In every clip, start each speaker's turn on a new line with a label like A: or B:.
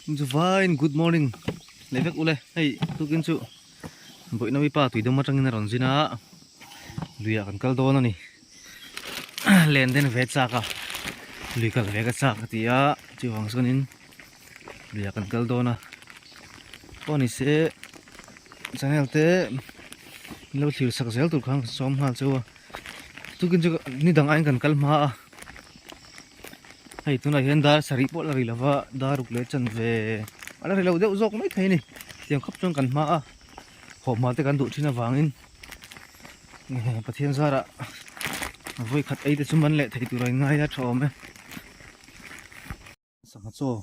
A: Chu vain good morning le vek ule hei tukin chu boina mi pa tuidum atangin a rawn zin a luia kan kal dawn a ni len den ve chak a lui kal ve ka chak a ti a chuang chuanin luia kan kal dawn a pawh ni se channel te min lo thlir sak zel tur khan ka sawm nghal chu a tukin chu ni dang aiin kan kal hma a hei tunah hian dar sarih pawh la ri lo va dar ruk leh chan ve a la ri lo deuh zawk mai thei a ni tiang khawp chuan kan hma a khawm hma te kan duh thin avangin pathian zara vawikhat ei te chu man leh thei tur a ingai a tha awm e. Sangha chaw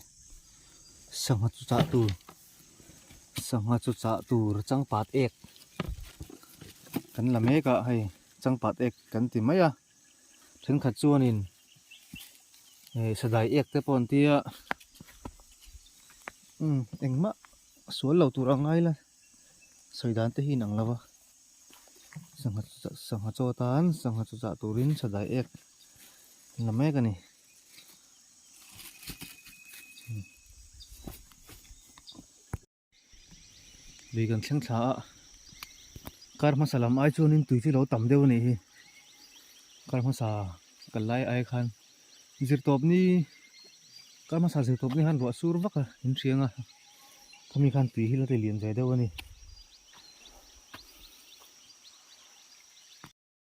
A: sangha chu chah tur sangha chu chah tur changpat ek kan la mek a hei changpat ek kan ti mai a thenkhat chuanin eh sadai ek te pawh an ti a umm engmah sual lo tur ang aila sawi dan te hi in ang lo va sangha sangha chaw tan sangha chu chah turin sadai ek an la mek a ni. lui kan thleng thla a kar hmasa lam ai chuan in tui chu lo tam deuh a nih hi kar hmasa kal lai ai khan zirtawp ni kar hmasa zirtawp ni khan ruah sur vak a in hriang a khami khan tui hi la tih liam ve deuh a ni.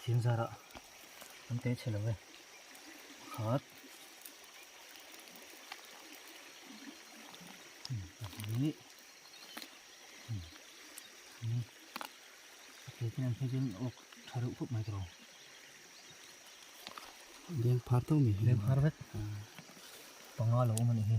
A: Thing zara kan teh chhe lo e. Pakhat. Ni. Ni. Pakhat kan teh chhe ok tha reuh khop mai tro. Leng phar tau mi. Leng phar vet. Panga lo mani hi.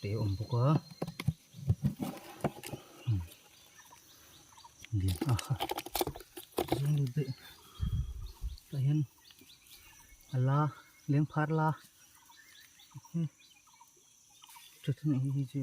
A: te awm bawk a tah hian a la leng phar la tha chu mai hi chu.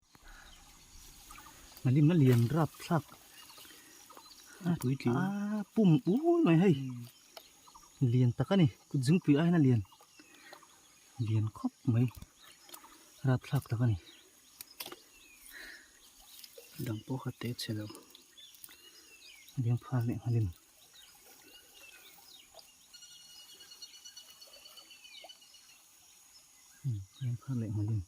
A: Hlim a lian rap thlak a aa pum ul mai hei lian tak a ni kut zingpui aiin a lian lian khawp mai rap thlak tak a ni dang pawh kha te che lo ding phal leh nghalin ding phal leh nghalin.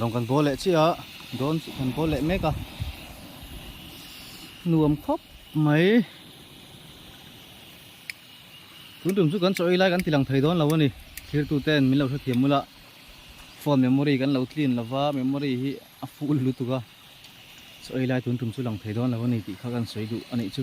A: Rong kan bâwl leh chiah a, dawn chu kan bâwl leh mêk a, nuam khawp mai. Tun tum chu kan chaw ei lai kan ti lang thei dawn lo a ni, thlir tu ten min lo hrethiam mul a, phone memory kan lo clean lo va, memory hi a full lutuk a, chaw ei lai tun tum chu lang thei dawn lo a ni tih kha kan sawi duh a nih chu.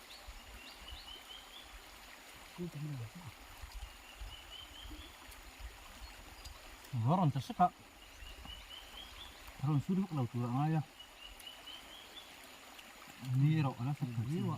A: Ruah rawn ta sek a, a rawn su hluk lo tur a ngai a, ni erawh a la sak ta viau a.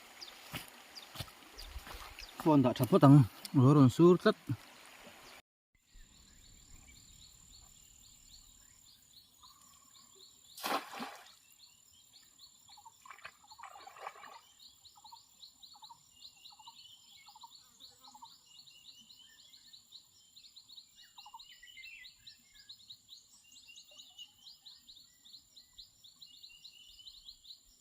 A: phone dah that phawt ang alo rawn sur tlat.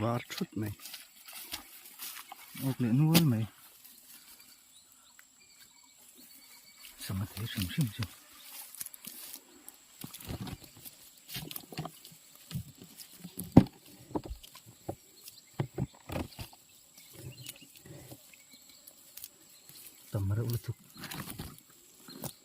A: var thut mai uk leh nual mai sangha thei hrim hrim chu tam reuh lutuk.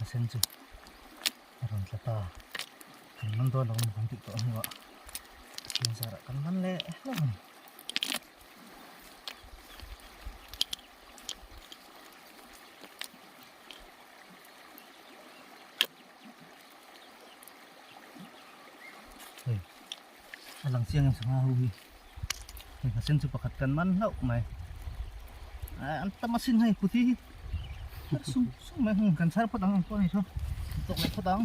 A: a sen chu a rawn tla ta kan man dawn lo kan tih tawh hnu ah a chhing zar ah kan man leh hlek a ni hei. a lang chiang in sangha ho hi hei hna sen chu pakhat kan man hlauh mai ai an tam asin hei puti hi sum sum mai hun kan sar phawt ang ang pawh ni chu tok leh phawt ang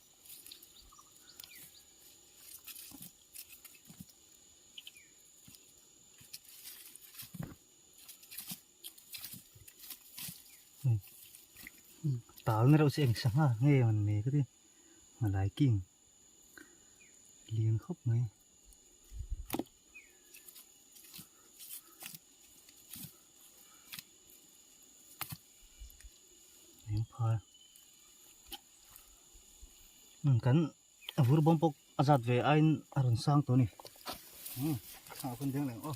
A: tal na rau se eng sanga nge man me ka ti malai king lian khawp mai. kan a vur bawm bawk a zat ve aiin a rawn sang tawh a ni umm a hun deng leh aw.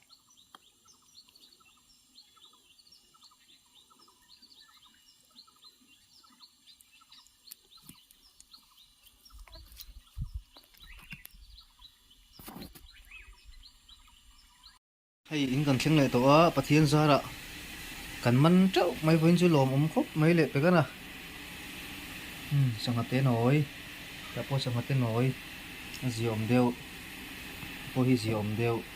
A: hei in kan thleng leh tawh a pathian zara kan man teuh mai pawhin chu lawm awm khawp mai leh pe ka na hmm sangha te nawi tah pawh sangha te nawi a zia awm deuh pawh hi zia awm deuh.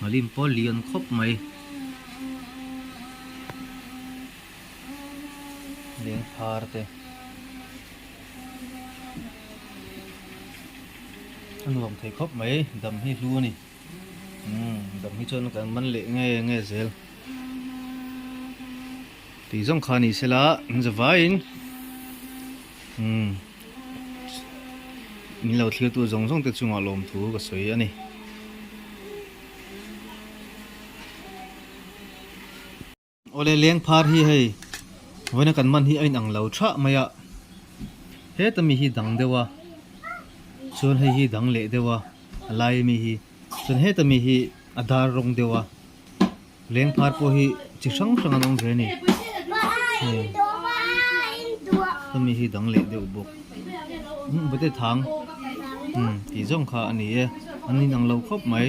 A: Malin pawh lian khawp mai. Lengphar te. A nuam thei khawp mai. Dam hi hlu a ni. Dam hi chuan kan man leh nge nge zel tih zawng kha ni sela zavaiin min lo thlir tu zawng zawng te chunga lawm thu ka sawi a ni. Awle leng phar hi hei vawiina kan man hi a inang lo thah mai a, heta mi hi dang deuh a, chuan hei hi dang leh deuh a, a laia mi hi chuan heta mi hi a dar rawng deuh a, leng phar pawh hi chi hrang hrang an awm ve a ni, heta mi hi dang leh deuh bawk, umm Bate Thang umm tih zawng kha a ni e, an inang lo khawp mai.